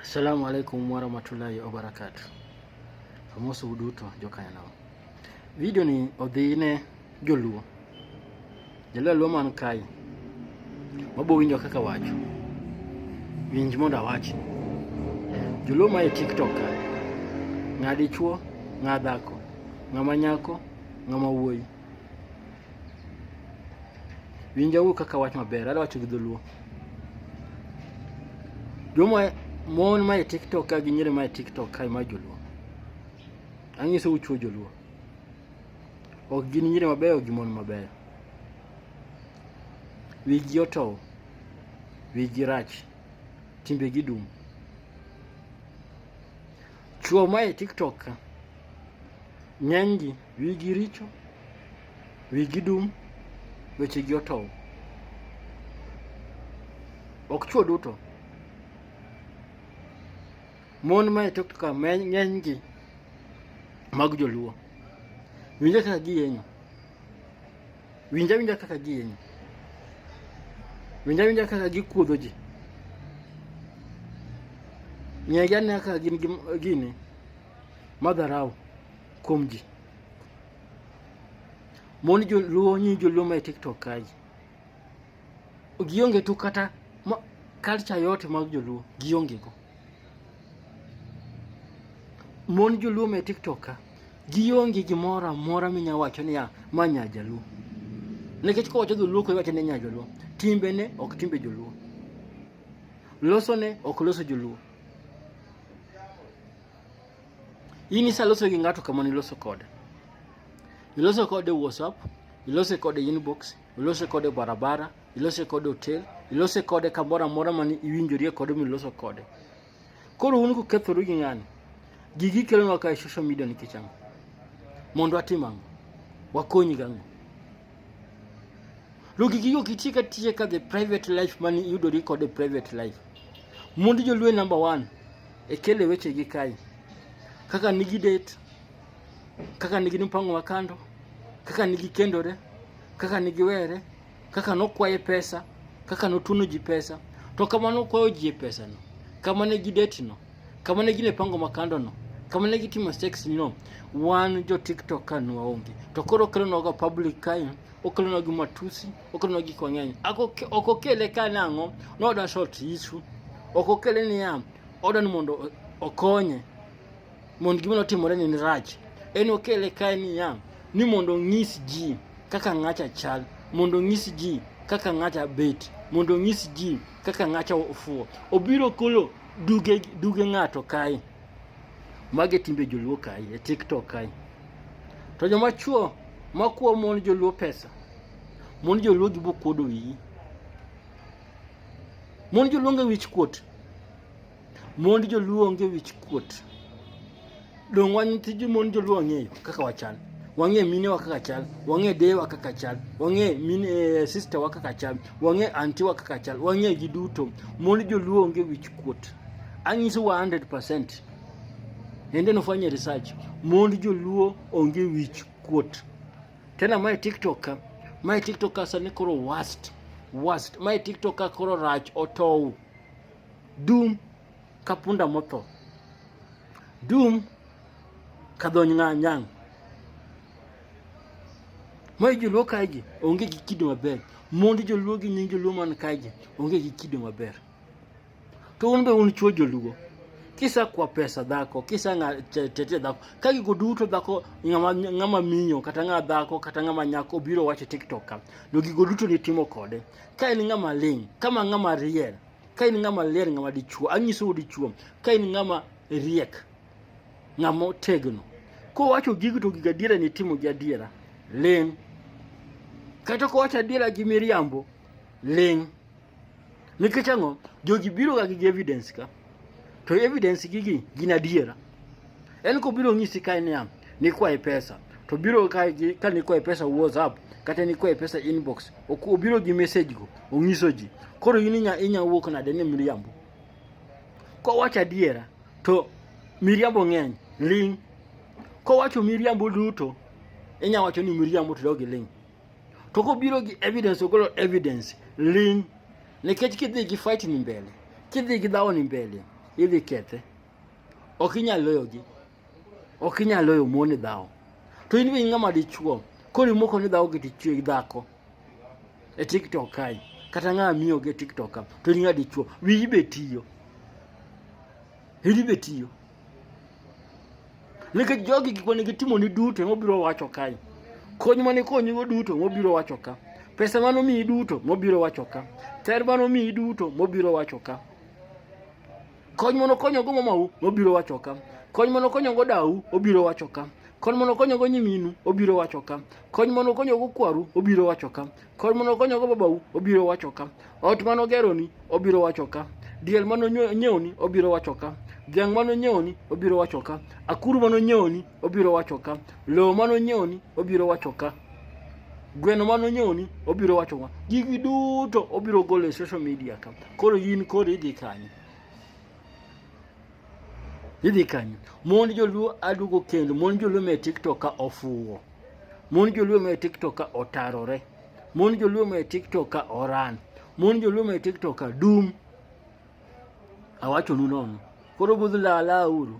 Assalamu alaikum warahmatullahi wabarakatuh. Amoso uduto jokanyo. Video ni odhi ne joluo. Joluo luo man kai. Wabo winjo kaka wacho. Winj mondo awachi. Joluo ma e TikTok kai. Ng'adi chuo, ng'adhako, ng'ama nyako, ng'ama wuoyi. Winjauru kaka wach maber, adwa wacho gi dholuo. Joma mon mae TikTok ka gi nyiri mae TikTok kae ma joluo. Anyiso uchuo joluo. Ok gin nyiri mabeyo gi mon mabeyo. Wigi otow. Wigi rach. Timbegi dum. Chuo ma e TikTok ka ng'enygi wigi richo, wigi dum, wechegi otow. Ok chuo duto. Mon ma e TikTok ka ng'enygi mag joluo. Winjo kaka giyenyo. Winja winja kaka giyenyo. Winja winja kaka gikudho ji. Ng'egi anena kaka gin gini madharau kuom ji. Mon joluo nyi joluo ma e TikTok kaji. gionge tu kata ma, culture yote mag joluo gionge go mon joluo me tiktok ka gionge gimoro amora minya wacho niya ma nya jaluo nikech kowacho dholuo ko iwacho ni nya joluo timbene ok timbe joluo losone ok loso joluo in isaloso gi ng'ato kamano iloso kode iloso kode whatsapp ilose kode inbox ilose kode barabara, ilose kode hotel, ilose kode kamoro amora ma iwinjorie kode miloso kode. Koro un kukethoru gi ng'ani, gigi kelonwa ka e social media nikech ang'o? Mondo atim ang'o? Wakonyi gang'o? Logi gigo kitiyo ka tiye ka the private life mani iyudori kod the private life. Mond jolwe number one e kele weche gi kai. Kaka nigi date kaka nigi mpango wa kando, kaka nigi kendore, kaka nigi were, kaka nokwaye pesa, kaka notuno ji pesa, to kama nokwayo ji e pesa no, kama ne gi date no, kama ne gine pango makando no, kama ne gitimo sex no, wan jo TikTok ka nwaonge. To koro kelo noga public kae, okelo nogi matusi, okelo nogi kwa ng'eny. Ako okokele ka nango, no da short issue. Okokele ni ya, odan mondo okonye. mondo gima notimore ni rach. En okele kae niya ni mondo onyis ji kaka ng'acha chal, mondo onyis ji kaka ng'acha bet, mondo onyis ji kaka ng'acha ofuwo. Obiro kolo duge duge ng'ato kae. Mage timbe joluo kae e TikTok kae. To joma chuo makuo mon joluo pesa. Mon joluo gibo kuodo wiyi. Mon joluo nge wich kuot. Mond joluo onge wich kuot. Dong' wan tij mond joluo wang'eyo kaka wachal. Wang'e mine wa kaka chal, wang'e deye wa kaka chal, wang'e mine eh, sister wa kaka chal, wang'e anti wa kaka chal, wang'e gi duto. Mond joluo onge wich kuot. Anyiso wa 100%. Ende nofanye research. Mond joluo onge wich kuot. Tena mae TikTok ka, mae TikTok ka sani koro worst, worst. Mae TikTok ka koro rach otow. Dum ka punda motho. Dum ka dhony ng'a nyang'. Mae joluo kaegi onge gi kido maber. Mondi joluo gi nying joluo man kaegi onge gi kido maber. To un be un chuo joluo. Kisa kwa pesa dhako, kisa nga tete dhako. Ka gigo duto dhako ngama ngama minyo kata ngama dhako kata ngama nyako biro wacho TikTok ka. Do gigo duto ni timo kode. Ka en ngama ling, kama ngama riel. ka in ng'ama ler ng'ama dichuo anyisou dichuo ka in ng'ama riek ng'ama otegno kowacho gigo to gigo adiera ni timo gi adiera ling' kata kowacho adiera gi miriambo ling' nikech ang'o jogi biroga gi evidence ka to evidence gigi gin adiera Yaani ko biro nyisi kae niya, nikwaye pesa to biro kae gi ka nikwaye pesa WhatsApp kata nikwaye pesa inbox ok obiro gi message go onyiso ji koro in inya inya wuok nade ni miriambo kowacho adiera to miriambo ng'eny ling kowacho miriambo duto inya wacho ni miriambo to dogi ling to kobiro gi evidence ogolo evidence ling nikech kidhi gi fight ni mbele kidhi gi dhawo ni mbele idhi kethe Ok inyal loyogi. Ok inyal loyo mon e dhawo. To in be in ng'ama dichuo. Koro imoko ni dhawo gi tichwe gi dhako. E TikTok kae. Kata ng'ama miyo gi e TikTok ka. To in ng'ama dichuo. Wiyi be tiyo. Wiyi be tiyo. Nikech jogi gik mane gitimo ni duto ema obiro wacho kae. Kony mane konyigo duto ema obiro wacho ka. Pesa mane omiyi duto ema obiro wacho ka. Ter mane omiyi duto ema obiro wacho ka. Kony mondo konyogo mamau obiro wacho ka. Kony mondo konyogo dau obiro wacho ka. Kony mondo konyogo nyiminu obiro wacho ka. Kony mondo konyogo kwaru obiro wacho ka. Kony mondo konyogo babau obiro wacho ka. Ot mano geroni obiro wacho ka. Diel mano nyewoni obiro wacho ka. Dhiang' mano nyewoni obiro wacho ka. Akuru mano nyewoni obiro wacho ka lowo mano nyewni obiro wacho ka gweno mano nyewni obiro wacho ka gigi duto obiro golo e social media ka koro in koro idhi kanyo idhi kanyo mond joluo adugo kendo mond joluo me tiktok ka ofuwo mond joluo me tiktok ka otarore mond joluo me tiktok ka oran mond joluo me tiktok ka dum awachonu nono koro budh lala uru